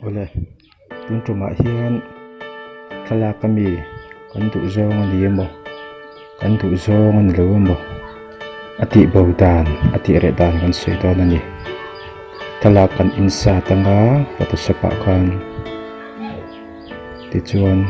awle tun tumah hian thlalak a mi kan duh zawng a ni emaw kan duh zawng a ni lo emaw a tih bo dan a tih reh dan kan sawi dawn a ni thlalak kan insert anga photoshop ah khan tichuan--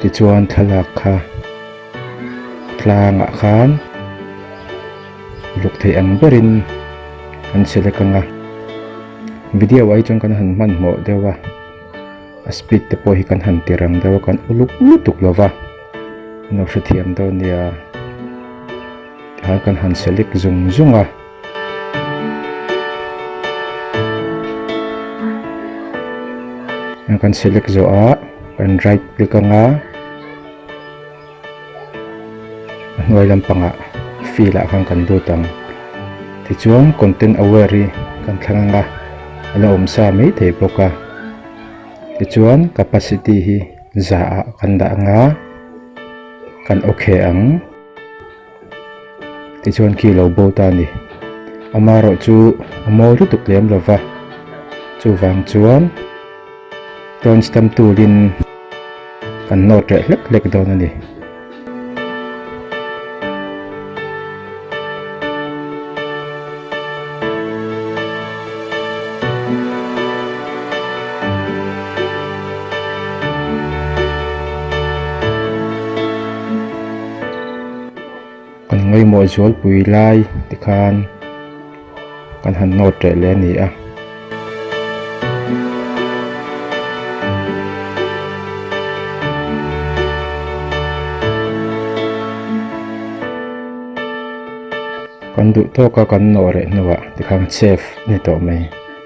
Tichuan thlalak kha tlangah khan uluk theih ang berin kan select ang a, video ah hi chuan kan han hmanhmawh deuh a, a speed te pawh hi kan han ti rang deuh a, kan uluk lutuk lova kan lo hrethiam dawn nia, tichuan kan han select zung zung a. Heng kan select zawh a kan right click ang a, a hnuai lampangah fill ah khan kan lut ang tichuan content aware hi kan thlang ang a, a la awm sa mai thei bawk a, tichuan capacity hi zah ah kan dah ang a, kan ok ang. Tichuan khi lo bo ta ni. Ama rawh chu a mawi lutuk lem lo va. Chuvang chuan tawn stamp tulin kan note reh hlek hlek dawn a ni. Kan ngaihmawh zualpui lai te khan kan han nawt reh leh a ni a. Kan duhtawka kan nawh reh hnuah tikhan safe a ni tawh mai.